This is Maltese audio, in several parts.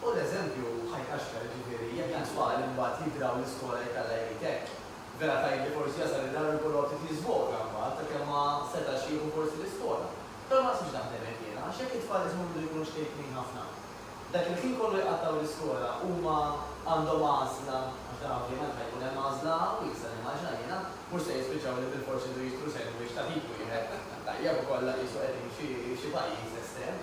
Hu l-eżempju ħajt għaxka, jiġifieri jekk dan twal imbagħad jidraw l-iskola jekk Alla jrid hekk. Vera tgħid li forsi jasal id-dar u jkollu ftit jiżvoga mbagħad sakemm ma setax jieħu forsi l-iskola. Però ma nasibx naħdem hekk jiena għax jekk it-tfal isma' bidu jkunu xkejknin ħafna, dak il-ħin kollu jqattgħu l-iskola huma għandhom għażla għax dan ovvjament ħa jkun hemm għażla wiesgħa nimmaġina jiena, mhux se jispiċċaw li bilfors iridu jixtru sandwich ta' ħin wieħed. Tajjeb ukoll qisu qegħdin f'xi pajjiż estrem.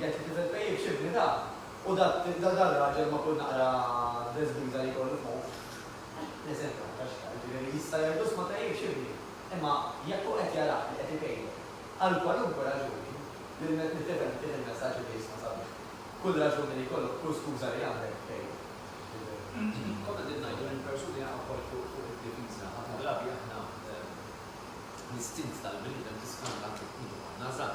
Jekk it-tifel tpejjipx x'ibni da! U dar-raġel ma' kull naqra dress biża' li jkollu fuq! L-eżempju ma' tax x'jgħid, jiġifieri jista' jgħid uss ma tpejjipx x'ibni! Imma jekk hu qed jarah li qed ipejjep, għal kwalunkwe raġuni, lit-tifel tittieh il-messaġġ li jisma' sabiex kull raġuni li jkollok, kull skuża li għandek, tpejjep. Jiġifieri, kont qegħdin ngħidu li l-persuni jaqgħu wkoll fuq id-difiża. Ħafna drabi aħna l-istint tal-bniedem tiskanta anke kif nkunu konna żgħar.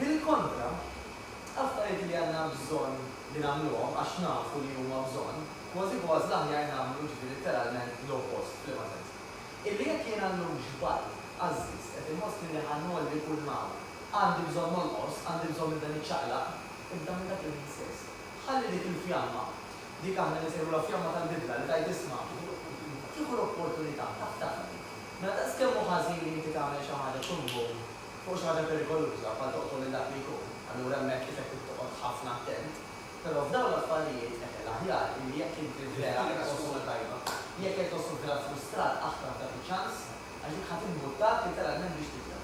Bil-kontra, affarijiet li għandna bżonn li nagħmluhom għax nafu li huma bżonn, kważi kważi l-aħjar nagħmlu jiġifieri litteralment l-oppost, f'liema sens? Illi jekk jiena llum xbajt, għażżiż, qed inħossni li ħa ngħolli kull ma hawn, għandi bżonn nonqos, għandi bżonn nibda niċċaqlaq, ibda minn dak il-ħin stess. Ħalli dik il-fjamma, dik aħna ninsejħulha fjamma tal-bidla li tgħid isma', tieħu l-opportunità, taħtaf dik. Mela daqskemm hu ħażin li inti tagħmel xi ħaġa kull jum, Fuq xi ħaġa perikoluża bħal toqtol lil dak li jkun, allura hemmhekk ifek trid toqgħod ħafna attent. Però f'dawn l-affarijiet, eħe, l-aħjar illi jekk inti vera qed tħoss ruħek tajba, jekk qed tħoss ruħek raffrustrat aħfar dak iċ-ċans għax dik ħa timbuttak litteralment biex tibda.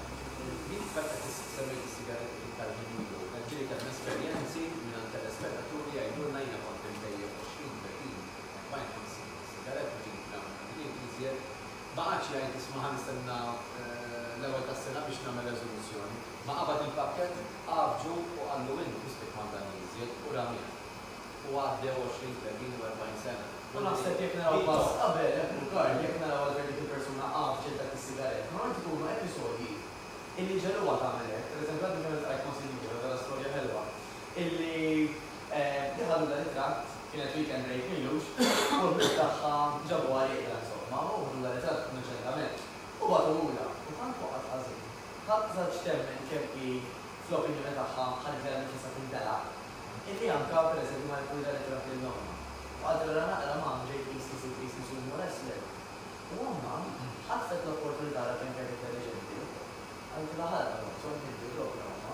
Int f'fatt qed semmejt is-sigaretti iktar minn ilu, hemm xi li kelm esperjenzi mingħand telespetaturi jgħidulna jiena kont imbejjed 20, 30, 40, 50 sigaretta ġieli f'dawn il-ħinijiet iżjed Ma qagħadx jgħid isma' ħa nistenna l-ewwel tas-sena biex nagħmel reżoluzzjoni. Ma qabad il-pakkett, għaffġu u qallu int biss li kmanda li iżjed u ramieh. U għaddew għoxrin, tletin u erbgħin sena. U naħseb jekk naraw pass qabel, hekk hu Karl, jekk naraw għal fejn dik il-persuna għaffġet dak is-sigarett, normalment ikunu episodji illi ġegħluha tagħmel hekk. Pereżempju għadni kemm iltqajt ma' sinjura, vera storja ħelwa, illi li ħadu dan it-tratt kienet weekend break m'ilux u l-ħbieb tagħha ġabuha rieqda insomma u ħdu dan it-tratt innoċentament u bagħtuhulha u tant waqgħet ħażin ħadd żaġġ temmen kemm hi fl-opinjoni tagħha qalet li għandha tista' tintelaq illi anke pereżempju ma neħħux dan it-tratt lil ommha u qaltilha naqra mom ġejt qisni sirt qisni soon more less lil u ommha ħatfet l-opportunità għalkemm kienet intelliġenti qaltilha ħa l-ammont u għalkemm ġejt logħba ommha.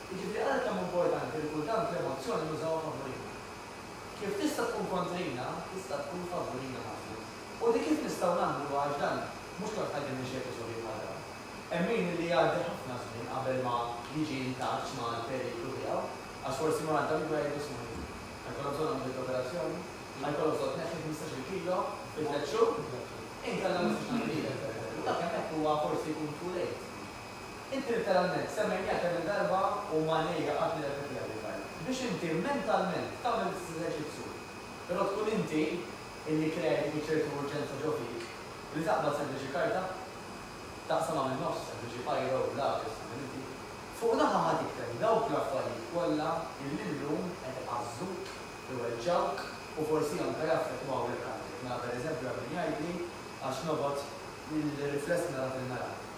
Jiġifieri għalhekk kemm hu importanti li kultant l-emozzjoni nużawha favurina. Kif tista' tkun kontrina, tista' tkun favurina ħafna. U di kif nistgħu nagħmluha għax dan mhux kulħadd għaddej minn xi episodji bħal dawn. Hemm min li jgħaddi ħafna żmien qabel ma jiġi intaċċ mal-periklu tiegħu għax forsi ma għadda mibgħed ġismu hu. Ħa jkollok bżonn għamliet l-operazzjoni? Ħa jkollok bżonn tneħħi ħmistax-il kilo fi tliet xhur? Inkella ma nistax ngħin lilek, pereżempju. Dak hemmhekk huwa forsi jkun too late. Inti litteralment semmejniha kemm-il darba u Manejja qatt nirrepetiha din l-arma. Biex inti mentalment tagħmel l-istess eżerċizzju. Però tkun inti illi kreajt dik iċ-ċertu urġenza ġo fik li taqbad sempliċi karta, taqsamha min-nofs, sempliċi biro, lapes, tagħmel inti. Fuq naħa ħa tikteb dawk l-affarijiet kollha illi llum qed iqażżuk, iweġġgħuk u forsi anke jaffettwaw lilk għalfejn. Mela pereżempju hemm min jgħidli għax nobgħod il-rifless nara fil-mera.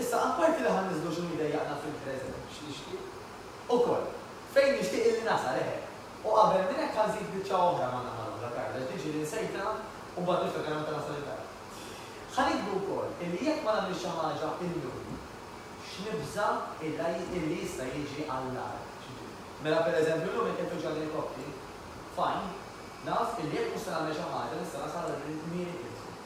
Issa, apparti li ħa niżlu x'inhu jdejjaqna fil-preżent u x'nixtieq ukoll, fejn nixtieq illi nasal, eħe. U qabel minn hekk ħa nżid biċċa oħra ma' naħa l-oħra, Karla, x'din xi li nsejtha u mbagħad niftakar meta nasal id-dar. Ħa nikbru wkoll illi jekk ma nagħmilx xi ħaġa illum, x'nibża' illi jista' jiġi għall-agħar. Mela, pereżempju, illum jekk infittxu għal din il-koppji, fajn, naf illi jekk mhux se nagħmel xi ħaġa nista' nasal għal kmieni kmieni.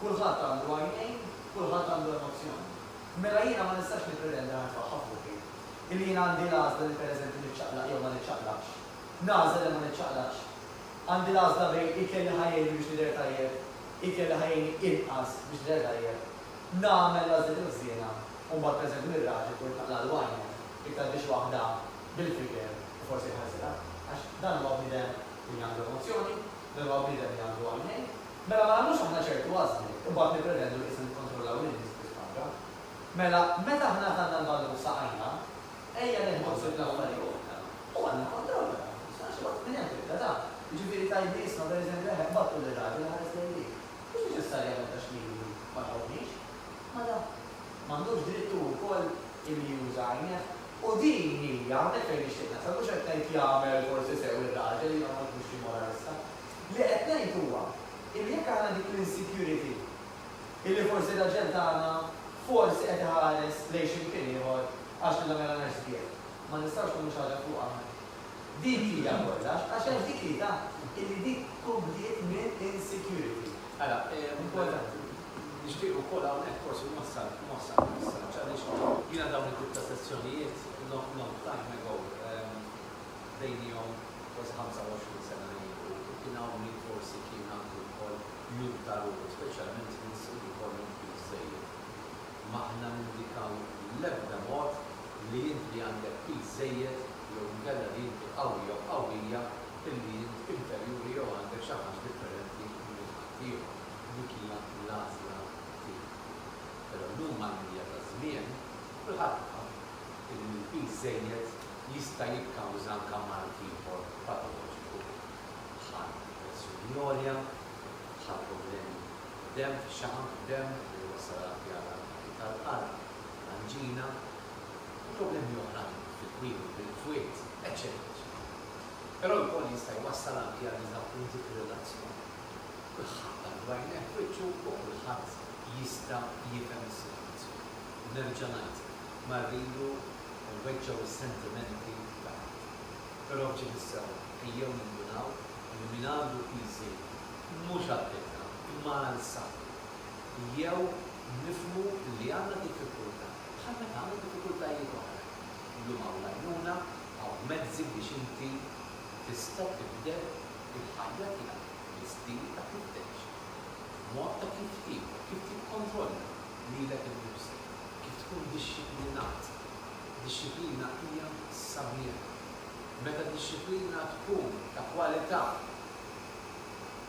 Kulħadd għandu għajnejn, kulħadd għandu emozzjoni. Mela jiena ma nistax nippretendi li nitfaħħar f'ruħi, illi jiena għandi l-għażla li pereżempju niċċaqlaq jew ma niċċaqlaqx. Nagħżel li ma niċċaqlaqx. Għandi l-għażla bejn ikel li ħa jgħinni biex nidher tajjeb, ikel li ħa jgħinni inqas biex nidher tajjeb. Nagħmel l-għażliet il-ħżiena u mbagħad pereżempju lil raġel ikolli nċaqlaqlu għajnejh jekk tgħaddix waħda bil-fiker u forsi jħażilha. Għax dan huwa bniedem li għandu emozzjoni, dan huwa bniedem li għandu għajnejn. Mela ma nagħmlux aħna ċertu għażliet, imbagħad nippretendu li issa nikkontrollaw lin-nies bi spanka. Mela, meta aħna għażalna l-ballun f'saqajna, ejja neħdu ħsieb l-affarijiet. U għandna kontroll wara kollox, għax xi waħda minn hemm tibda taf. Jiġifieri tgħid li isma' pereżempju eħe, battu lir-raġel iħares lejn dik. Mhux neċessarjament għax milu li ma jħobbnix. Ma nafx. Ma għandux dritt hu wkoll illi juża għajnejh? U din hi hawnhekk fejn nixtieq nasal, mhux qed ngħid jagħmel forsi sew ir-raġel, jiena ma nkux xi moralista. Li qed ngħid huwa illi jekk aħna dik l-insecurity illi forsi l-aġent tagħna forsi qed iħares lejn xi mkien ieħor għax lilha mela ngħix sbieħ, ma nistgħux nagħmlu xi ħaġa fuqha aħna. Dik hija kollox għax hemm dik l-idà illi dik tkun bdiet minn insecurity. Ara, importanti. Nixtieq ukoll hawnhekk forsi nwassal nwassal messaġġ għaliex jiena dawn it-tip ta' sessjonijiet long long time ago bdejnihom. kważi 25 sena ilu, u kien hawn min forsi kien għandu wkoll jum ta' ruħu, speċjalment nies li jkollhom flus żejjed. M'aħna nindikaw l-ebda mod li int li għandek piż żejjed jew inkella li inti qawwi jew qawwija illi int inferjuri jew għandek xi ħaġa differenti minn ħaddieħor. Dik hija l-għażla tiegħek. Però llum mal-mdija taż-żmien, kulħadd jaf illi l-piż żejjed jista' jikkawża anke mard ieħor patoloġiku bħal pressjoni għolja, bħal problemi fid-demm, fix-xaħam fid-demm li jwassal għal pjaga anke tal-qalb, anġina, u problemi oħrajn fit-twemmin, bil-fwied, eċċetera eċċetera. Però wkoll jista' jwassal anke għal diżappunti fir-relazzjoni. Kulħadd għandu għajnejh f'wiċċu u kulħadd jista' jifhem is-sitwazzjoni. Nerġa' ngħidlek. mar lilu u weġġgħu s-sentimenti ta' ħadd. Però f'ġie mis-sewwa, ejjew nindunaw li min għandu piżi mhux għal ħiltna imma għal saħħtu. Jew nifhmu li għandna diffikultà bħal meta għandna diffikultajiet oħra. Illum hawn l-għajnuna, hawn mezzi biex inti tista' tibdel il-ħajja tiegħek bi stil ta' kif tgħix, f'mod ta' kif tiekol, kif tikkontrolla. lilek innifsek kif tkun dixxiplinat. Dixxiplina hija sabiħa. Meta d-dixxiplina tkun ta' kwalità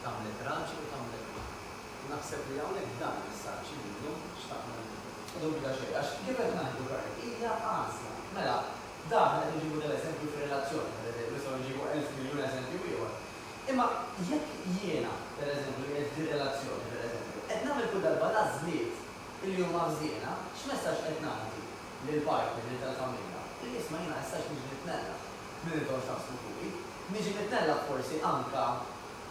tagħmlek raġel u tagħmlek mara. U naħseb li hawnhekk dan il-messaġġ li llum xtaqna nibgħatu. La dubju xejn, għax kif qed ngħidu Karl, hija għażla. Mela, dan qed inġibu dal-eżempju fir-relazzjoni, pereżempju, nistgħu nġibu elf miljun eżempju ieħor, Imma jekk jiena, per eżempju, qiegħed f'din relazzjoni, per eżempju, qed nagħmel kull darba l-għażliet li huma ħżiena, x'messaġġ qed ngħaddi lill-partner, lil tal-familja? Li isma' jiena issa x'niġi nitnellaħ minn intom x'taħsbu fuqi. Niġi nitnellaħ forsi anke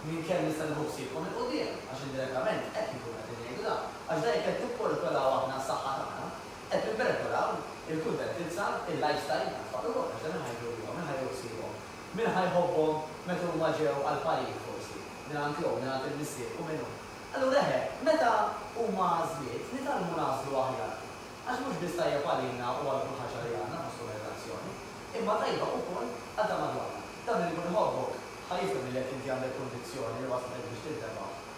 minn kemm nista' nieħu ħsiebkom 'il quddiem, għax indirettament hekk inkunu qegħdin ngħidu dan. Għax dan jekk qed nipperikolaw aħna s-saħħa tagħna, qed nipperikolaw il-kuntentizza, il-lifestyle tat-tfal ukoll, għax dan iħajru lilhom, iħajru ħsiebhom, Min ħa jħobbhom meta huma ġew għall-parir, forsi, mingħand l-Omm, mingħand il-Missier u minn hu? Allura eħe, meta huma għażliet, nitgħallmu nagħżlu aħjar. Għax mhux biss tajjeb għalina u għal kull ħaġa li għandna fis-summernazzjoni, imma tajba ukoll għal ta' madwarna. Dan li jkun iħobbok, ħa jifhem li jekk inti għandek kunvizzjoni li waslet biex tintebagħ,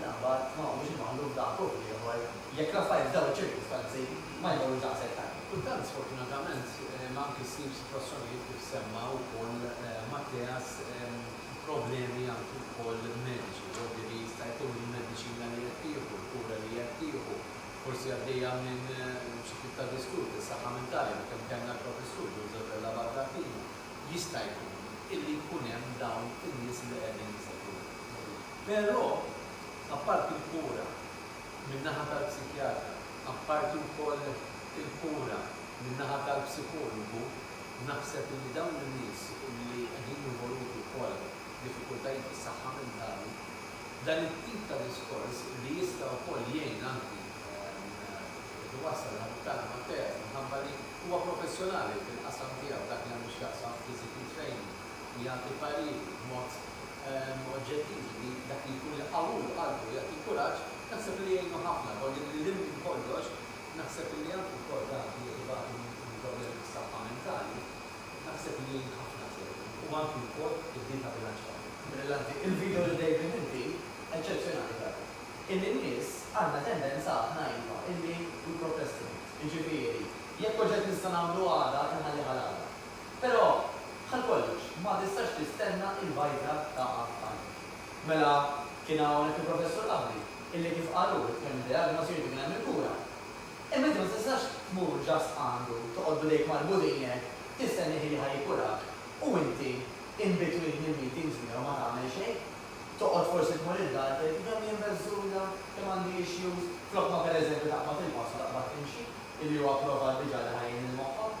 L-aħbar ma huwiex imgħammlu b'daqq u b'ieħor jekk l-affarijiet f'dawn iċ-ċirkustanzi ma jmorrux daqshekk tajjeb. Kultant, sfortunatament, imma anki ssib sitwazzjonijiet kif semma wkoll Matteas, problemi anki wkoll mediċi, jekk jista' jkun il-mediċina li qed tieħu, il-kura li qed tieħu, forsi għaddejja minn xi tip ta' disturb fis-saħħa mentali li kemm kellna l-Professur Joseph Della Baldassino, jista' jkun illi jkun hemm dawn in-nies li qegħdin jsegwuna. Però, apparti l-kura min-naħa tal-psikjatra, apparti wkoll il-kura min-naħa tal-psikologu, naħseb li dawn in-nies li qegħdin involuti wkoll f'diffikultajiet fis-saħħa mentali, dan it-tip ta' diskors li jista' wkoll jgħin anki biex iwassal il-ħabib tagħna Matteas minħabba li huwa professjonali fil-qasam tiegħu f'dak li għandu x'jaqsam physical training u jagħti pariri b'mod oġġettivi li dak li jkun iqawwlu qalbu u jagħti l-kuraġġ, naħseb li jgħinu ħafna. Hu li lil hinn minn kollox, naħseb li anki wkoll dawk li qed ibatu minn problemi fis-saħħa mentali, naħseb li jgħin ħafna ċertu. U anki wkoll id-din ta' bilanċ ta' ħin. Brillanti il-video li David inti, eċċezzjonali vera. Illi n-nies għandna tendenza aħna iva illi we procrastinate. Jiġifieri, jekk oġġett nista' nagħmlu għada, inħallih għal għada. Però, bħal kollox, ma tistax tistenna il-bajda taqa' f'qalbek. Mela, kien hawnhekk il-Professur Abri, illi kif qal hu, kemm id-diagnosi jrid ikun hemm il-kura. Imma inti ma tistax tmur just għandu, toqgħod b'idejk marbutin hekk, tistennieh illi ħa jikkurak, u inti in between il-meetings miegħu ma tagħmel xejn. Toqgħod forsi tmur id-dar tgħid, kemm jien beżżuża, kemm għandi issues, flok ma pereżempju taqbad il-pass u taqbad timxi, illi hu approvat diġà li ħa jgħin lil moħħok.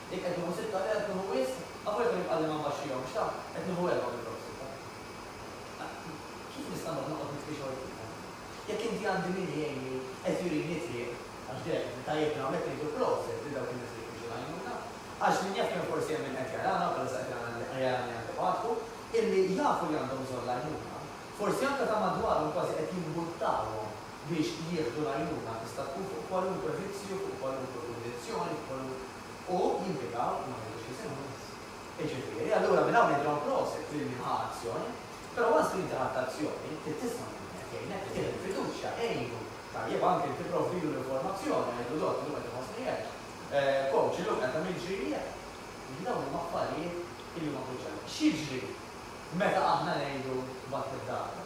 Jekk qed nieħu sitta, le qed nieħu wisq, avolja kemm jibqagħli ma nbaxxihomx, taf, qed nieħu erbgħa minn dawk sitta. Kif nista' mbagħad noqgħod nitfi xogħol fihom? Jekk inti għandi min igħinni, qed jurini t-triq, għax deheb li tajjebna hawnhekk ngħidu proset lil dawk in-nies li jfittxu l-għajnuna, għax min jaf kemm forsi hemm min qed jarana, u bħalissa qed jarani anke f'għatku, illi jafu li għandhom bżonn l-għajnuna, forsi anke ta' madwarhom kważi qed jimbuttawhom. biex jieħdu l-għajnuna tista' tkun fuq kwalunkwe vizzju, fuq kwalunkwe kundizzjoni, f'kwalunk. U jimpjegaw, ma ngħidux isimhom biss. Jiġifieri, allura minn hawn nidilhom prosit lil min ħa azzjon, però once li inti ħadt azzjoni, trid tisma' lil min qed jgħinek, li tih il-fiduċja, għinu, tajjeb anke inti provvilu l-informazzjoni, ngħidlu dott illum qed inħossni hekk, coach illum qed għamilt ġiri hekk. Jiġifieri dawn huma affarijiet illi huma kruċjali. X'jiġri meta aħna ngħidu tbatt id-darba?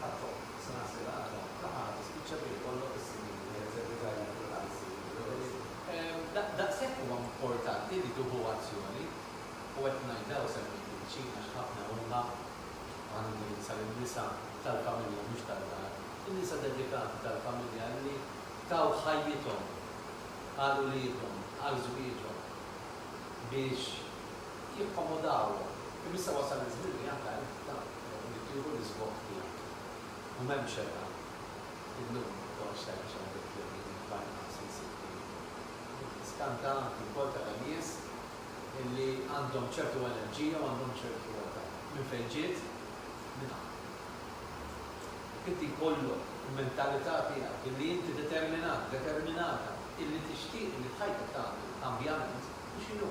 Ħadd-Omm, Sena Sengħata, ta' qatt tispiċċa billi jkollok is-snin li qed teddika lil kull qalb li jipprevedi. Daqshekk huwa importanti li tieħu azzjoni, u qed ngħidha u semmejt il-viċin għax ħafna huma, u għandi nindirizza lin-nisa tal-familja mhux tad-dar, in-nisa dedikati tal-familja li taw ħajjithom għal uliedhom, għal żwieġhom biex jakkomodawhom. Imma issa wasal iż-żmien li anke għalik dan huwa li tieħu l-isbogħ tiegħek. U m'hemmx xejn aħjar. Illum ma nibqgħux se għax għandek jemnu li l-Barra ma se jsir periklu. Din hi skanta anki wkoll tara nies li għandhom ċertu enerġija u għandhom ċertu età. Minn fejn ġiet? Minn hawn. Jekk inti jkollok il-mentalità tiegħek illi inti determinat, determinata illi tixtieq illi f'ħajtek tagħmel kambjament, hu x'inhu?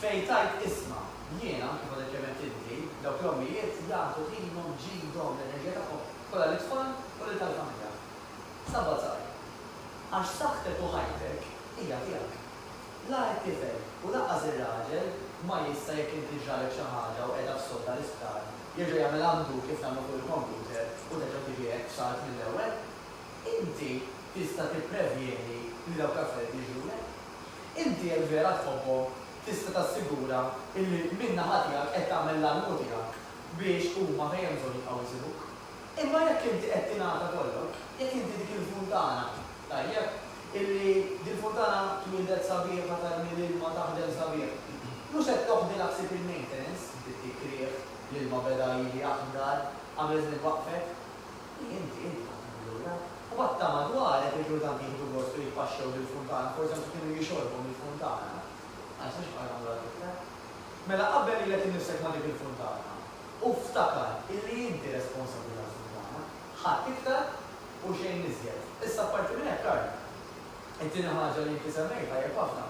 fejn tgħid, Isma', jiena, kif għadek kemm għedt inti, dawk l-ommijiet jagħtu ħinhom, ġidhom, l-enerġija tagħhom kollha lit-tfal u lil tal-familja. Sabat żgħir. Għax saħħtek u ħajtek hija tiegħek. La it-tifel u lanqas ir-raġel ma jista' jekk inti ġralek xi ħaġa u qiegħda f'sodda l-isptar, jerġa' jagħmel undo kif nagħmlu fuq il-kompjuter u terġa' tiġi hekk b'salt mill-ewwel. Inti tista' tipprevjeni li dawk l-affarijiet jiġrulek. Inti jekk vera tħobbhom, tista' tassigura illi min-naħa tiegħek qed tagħmel l-almu tiegħek biex huma fejn hemm bżonn jibqgħu jżuruk. Imma jekk inti qed tingħata kollok, jekk inti dik il-funtana, tajjeb, illi dil-funtana twieldet sabiħa tarmi l-ilma taħdem sabiħ, mhux qed toħdilha ħsieb il-maintenance, inti ttik riħ, l-ilma beda jili aħdar, qabel żmien waqfet. Inti, inti tagħtihom lura. U għatta ma dwarek li kieku tant jieħdu gost u jitpaxxew bil-funtana, forsi anki kienu jixorbu mill-funtana. Ma nistax nibqa' nagħmlu għal tiflek. Mela qabbel lilek innifsek ma' dik il-funtana. U ftakar illi inti responsabbli tal-funtana. Ħadd iktar u xejn iżjed. Issa apparti minn hekk, Karl, it-tieni ħaġa li inti semmejt tajjeb ħafna,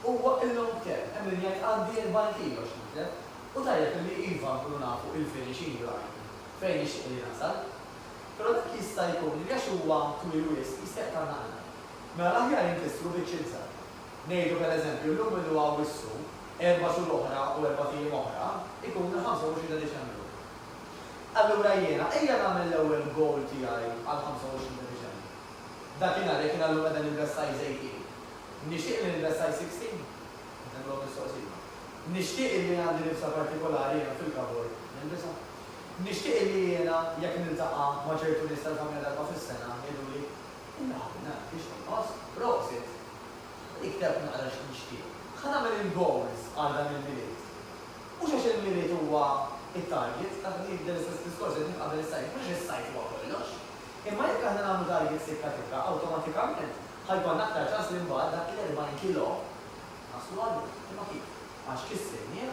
huwa il-long term. Hemm min jgħid għandi 40 kilo x'nitlef. U tajjeb illi iva nkunu nafu il-finishing line. fejn nixtieq li nasal. Però dak jista' jkun li għax huwa twil wisq jista' jaqtgħalna qalbna. Mela l-aħjar inkissru bieċ iżgħar. Ngħidu per eżempju llum ilu Awwissu, erba' xhur oħra u erbat ijiem oħra jkun il-25 ta' Diċembru. Allura jiena ejja nagħmel l-ewwel goal tiegħi għall-25 ta' Diċembru. Dakinhar jekk jiena llum qiegħda nilbes size 18, nixtieq li nilbes size 16? Qed nagħmilhom mistoqsija. Nixtieq illi għandi libsa partikolari hemm fil-cupboard nilbisha? Nixtieq illi jiena jekk niltaqa' ma' ċertu nies tal-familja darba fis-sena jgħiduli, Inna ħabib nagħraf kif tonqos, prosit! Li ktebtli naqra x'qed nixtieq. Ħa nagħmel il-goals għal dan il-Milied. Mhux għax il-Milied huwa t-target, taf li jibda l-istess diskors li qed qabel is-sajf, mhux is-sajf huwa kollox. Imma jekk aħna nagħmlu target sikka tikka, awtomatikament ħa jkollna aktar ċans li mbagħad dak l-40 kilo naslu għalih. Imma kif? Għax kissirnieh.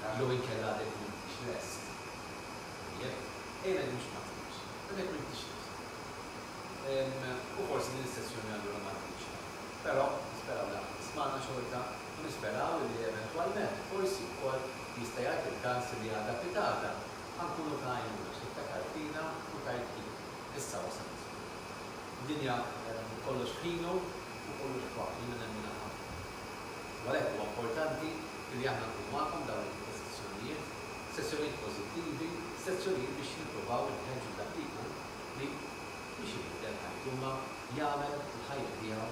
Taf jew inkella għadek m'intix lest? Tajjeb, ejja ngħidu mhux ma tridx, għadek m'intix lest. U forsi din is-sessjoni allura ma tkunx hemm. Però, nisperaw li għad tismagħna xorta u nisperaw illi eventwalment, forsi wkoll, jista' jgħid il-każ li għada pitgħada ħa nkunu ta' għajnuna għax iftakar fina u tgħid ħin, issa wasal iż-żmien. Id-dinja kollox f'ħinu u kollox f'waqtu, jiena nemminha ħafna. U għalhekk huwa importanti li aħna nkunu magħkom f'dawn it-tip ta' sessjonijiet, sessjonijiet pożittivi, sessjonijiet biex nippruvaw inħeġġu dak li jkun li biex ibiddel ħajtu imma jagħmel il-ħajja tiegħu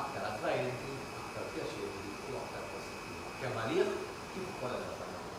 aktar attrajenti, aktar pjaċevoli u aktar pożittiva kemm għalih kif ukoll għal dawk attornu.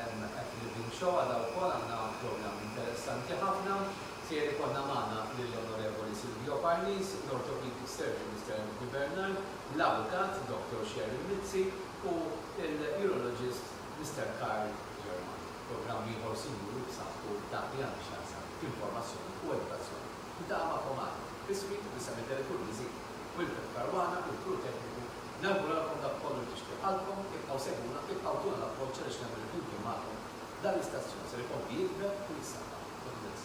At Living Show għada wkoll għandna programm interessanti ħafna. Ser ikollna magħna lill-Onorevoli Silvio Parnis, l-Orthopedic Surgeon Mister Anthony Bernard, l-Avukat Doctor Cheryl Mizzi u l-Urologist Mister Karl Germani. Programm ieħor sinjuri b'saħħtu f'dak li għandu x'jaqsam informazzjoni u edukazzjoni. Niltaqa' magħkom għada. Bismit u b'isem it-Telefurniżi, Wilfred Caruana u l-crew tekniku, Nawguralkom dak kollu li tixtieq qalbkom, ibqgħu segwuna, ibqgħu tuna l-appoġġ għaliex nemmen li flimkien magħkom dan l-istazzjon ser ikompli jikber u jissaħħaħ. God bless.